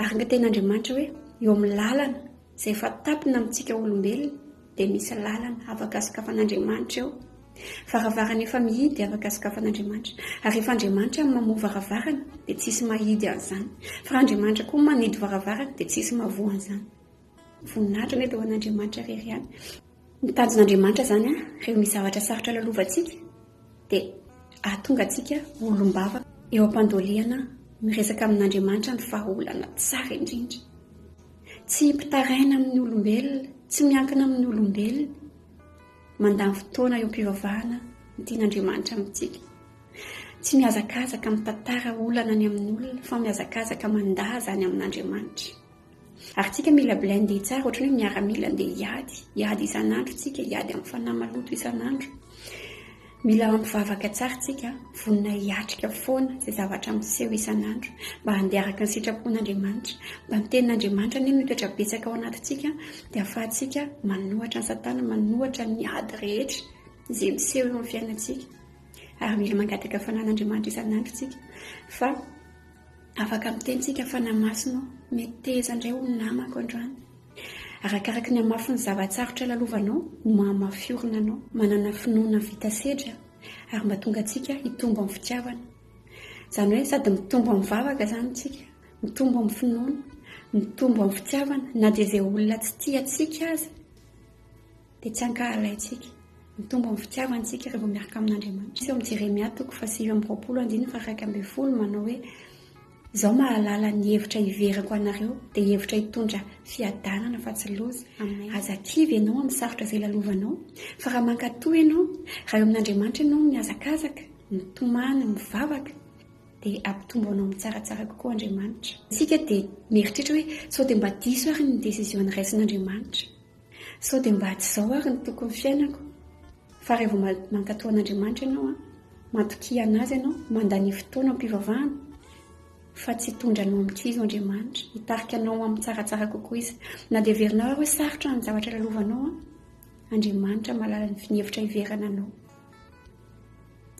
Ary ny tenin'Andriamanitra hoe eo amin'ny lalana izay efa tampina amintsika olombelona dia misy lalana afaka sokafan'Andriamanitra eo. Varavarana efa mihidy afaka sokafan'Andriamanitra. Ary rehefa Andriamanitra no mamoha varavarana dia tsy hisy mahidy an'izany. Fa raha Andriamanitra koa no manidy varavarana dia tsy hisy mahavoa an'izany. Voninahitra mety ho an'Andriamanitra irery ihany. Ny tanjon'Andriamanitra izany rehefa misy zavatra sarotra lalovantsika dia ahatonga antsika olom-bava eo am-pandolihana miresaka amin'Andriamanitra ny vahaolana tsara indrindra. Tsy mpitaraina amin'ny olombelona, tsy miankina amin'ny olombelona. Mandany fotoana eo am-pivavahana ny tian'Andriamanitra amintsika. Tsy mihazakazaka mitantara olana ny amin'olona fa mihazakazaka mandaha izany amin'Andriamanitra. Ary tsika mila blindé tsara ohatrany hoe miaramila andeha hiady, hiady isan'andro tsika, hiady amin'ny fanahy maloto isan'andro. Mila mampivavaka tsara tsika, vonona hiatrika foana izay zavatra miseho isan'andro mba handeha araka ny sitrapon'Andriamanitra, mba ny tenin'Andriamanitra anie no hitoetra betsaka ao anatintsika dia afahantsika manohatra an'i satana, manohatra ny ady rehetra izay miseho eo amin'ny fiainantsika. Ary mila mangataka fananan'Andriamanitra isan'andro tsika fa Afaka miteny tsika fa namasina aho. Meteza indray ho namako androany. Arakaraky ny hamafin'ny zava-tsarotra lalovanao no mahamafy orina anao. Manana finoana vita sedra ary mba tonga antsika hitombo amin'ny fitiavana. Izany hoe sady mitombo amin'ny vavaka izany tsika, mitombo amin'ny finoana, mitombo amin'ny fitiavana na dia izay olona tsy tia antsika aza. dia tsy ankahalaintsika. Mitombo amin'ny fitiavany isika raha vao miaraka amin'Andriamanitra. Eo amin'ny Jeremia toko fahasivy amby roapolo andininy faharaika ambin'ny folo manao hoe, Izaho mahalala ny hevitra hiverako anareo, dia hevitra hitondra fiadanana fa tsy loza. Aza kivy ianao amin'ny sarotra izay lalovanao, fa raha mankatò ianao, raha eo amin'Andriamanitra ianao no mihazakazaka, mitomany, mivavaka, dia hampitombo anao mitsaratsara kokoa Andriamanitra. Isika dia mieritreritra hoe, sao dia mba diso ary ny décision niraisin'Andriamanitra. Sao dia mba tsy izao ary no tokony fiainako? Fa raha vao mankatò an'Andriamanitra ianao an, matokia an'Azy ianao, mandania fotoana am-pivavahana, fa tsy hitondra anao amin'ny kizo Andriamanitra. Hitarika anao amin'ny tsaratsara kokoa Izy. Na dia heverinao ary hoe sarotra ny zavatra lalovanao an, Andriamanitra mahalala ny hevitra hiverana anao.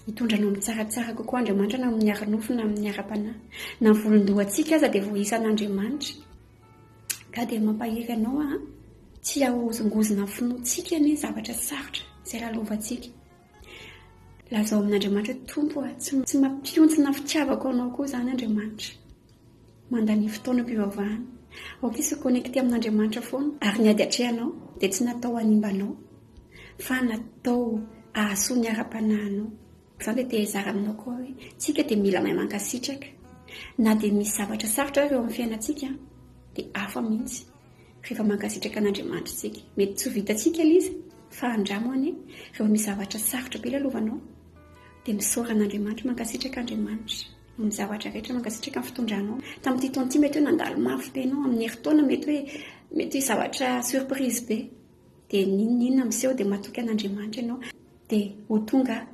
Hitondra anao amin'ny tsaratsara kokoa Andriamanitra na amin'ny ara-nofo na amin'ny ara-panahy. Na ny volon-dohantsika aza dia voaisan'Andriamanitra. Ka dia mampahery anao aho an! Tsy hahozongozona ny finoantsika anie zavatra sarotra izay lalovantsika. Lazao amin'Andriamanitra hoe, Tompo a, tsy mampihontsina fitiavako anao koa izany Andriamanitra. Mandania fotoanam-pivavahana. Aoka hisy hi-connecter amin'Andriamanitra foana. Ary ny ady atrehanao dia tsy natao hanimba anao, fa natao hahasoa ny ara-panahinao. Zah le te hizara aminao koa hoe tsika dia mila mahay mankasitraka na dia misy zavatra sarotra ary eo amin'ny fiainantsika dia hafa mihitsy rehefa mankasitraka an'Andriamanitra tsika mety tsy ho vitantsika ilay izy fa andramo anie rehefa misy zavatra sarotra be lalovanao dia misaora an'Andriamanitra mankasitraka Andriamanitra amin'ny zavatra rehetra mankasitraka ny fitondranao tamin'ity taona ity mety hoe nandalo mafy be ianao amin'ny herintaona mety hoe mety hoe zavatra surprise be dia n'inon'inona miseho dia matoky an'Andriamanitra ianao dia ho tonga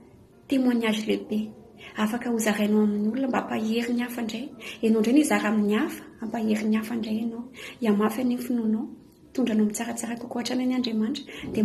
témoignage lehibe afaka ho zarainao amin'ny olona mba hampahery ny hafa indray ianao indray nizara amin'ny hafa hampahery ny hafa indray ianao hihamafy an'iny finoanao hitondra anao mitsaratsara kokoa hatrany any Andriamanitra dia